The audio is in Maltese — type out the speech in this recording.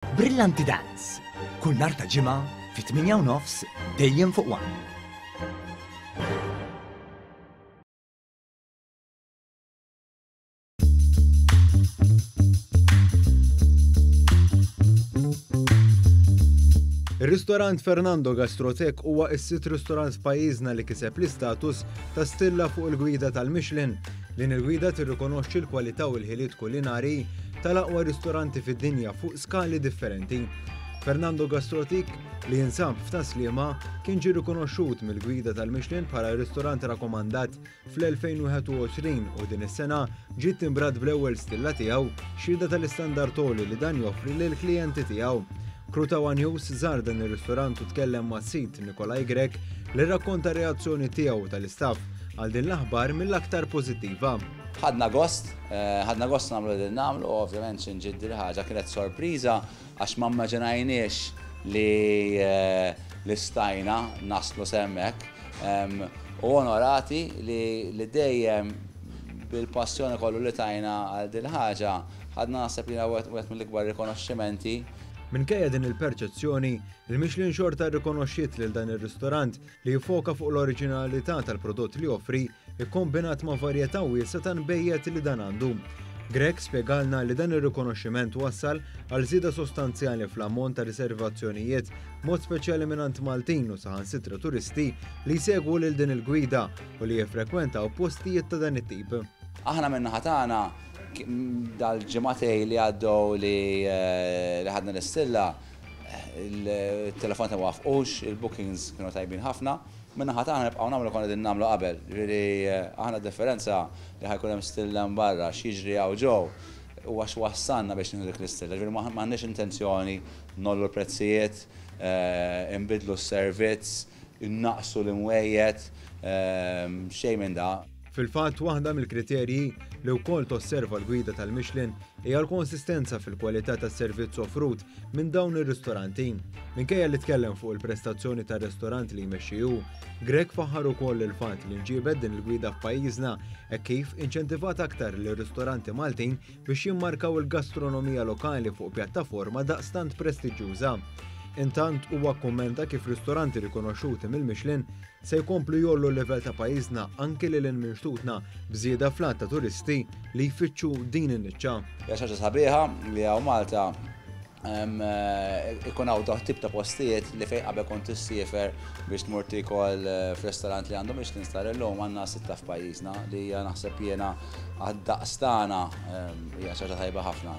Brillanti Dance, kull nhar ta' ġimgħa fit-tmienja u nofs dejjem fuq one. Ir-ristorant Fernando Gastrotech huwa s-sitt ristorant f'pajjiżna li kiseb l-istatus ta' stilla fuq il-gwida tal-Michelin. Din il-gwida tirrikonoxxi l-kwalità u l-ħiliet kulinari tal-aqwa ristoranti fid-dinja fuq skali differenti. Fernando Gastrotik, li jinsab f'Taslima, kien ġie rikonoxxut mill-gwida tal-Michelin bħala ristorant rakkomandat fl-2021 u din is-sena ġiet timbrat bl-ewwel stilla tiegħu xhieda tal-istandard toli li dan joffri lill-klijenti tiegħu. Krutawa News żar dan ir-ristorant u tkellem ma' sid Nikolaj Grek li rrakkonta reazzjoni tiegħu tal-istaff għal din l-aħbar mill-aktar pożittiva. Ħadna gost, ħadna gost nagħmlu li qegħdin nagħmlu u ovvjament xi nġid dil-ħaġa kienet sorpriża għax ma mmaġinajniex li li stajna naslu s'hemmhekk u onorati li dejjem bil-passjoni kollu li tajna għal dil-ħaġa ħadna naħseb li huwa wieħed mill-ikbar rikonoxximenti. Minkejja din il-perċezzjoni, il-Michelin xorta rrikonoxxiet lil dan ir-ristorant li jiffoka fuq l-oriġinalità tal-prodott li joffri, ikkombinat ma' varjetà wiesgħa ta' nbejjed li dan għandu. Grech spjegalna li dan ir-rikonoxximent wassal għal żieda sostanzjali fl-ammont ta' riservazzjonijiet, b'mod speċjali mingħand Maltin u saħansitra turisti li jsegwu lil din il-gwida u li jiffrekwentaw postijiet ta' dan it-tip. Aħna min-naħa tagħna, dal-ġimagħtej li għaddew li ħadna l-istilla, Il-telefonati ma waffqux, il-bookings kienu tajbin ħafna. Min-naħa tagħna nibqgħu nagħmlu li konna qegħdin nagħmlu qabel. Jiġifieri aħna d-differenza li ħa jkun hemm stilla hemm barra, x'jiġri hawn ġo, huwa x'wassalna biex nieħdu dik l-istilla. Jiġifieri m'għandniex intenzjoni ngħollu l-prezzijiet, inbiddlu s-servizz. Innaqqsu l-imwejjed, xejn minn da. Fil-fatt, waħda mill-kriterji, li wkoll tosserva l-gwida tal-Michelin, hija l-konsistenza fil-kwalità tas-servizz offrut minn dawn ir-ristoranti. Minkejja li tkellem fuq il-prestazzjoni tar-ristorant li jmexxi hu, Grech faħħar ukoll il-fatt li nġiebet din il-gwida f'pajjiżna hekk kif inċentivat aktar lir-ristoranti Maltin biex jimmarkaw il-gastronomija lokali fuq pjattaforma daqstant prestiġjuża. Intant huwa kkummenta kif ristoranti rikonoxxuti mill-Michelin se jkomplu jollu l-livell ta' pajjiżna anki lil hinn minn xtutna b'żieda fl-għadd ta' turisti li jfittxu din in-niċċa. Hija xi ħaġa sabiħa li hawn Malta Ikun hawn dawn it-tip ta' postijiet li fejn qabel kont tissiefer biex tmur tiekol f'ristorant li għandu Michelin star illum għandna sitta f'pajjiżna li hija naħseb jiena għad-daqs tagħna hija xi ħaġa tajba ħafna.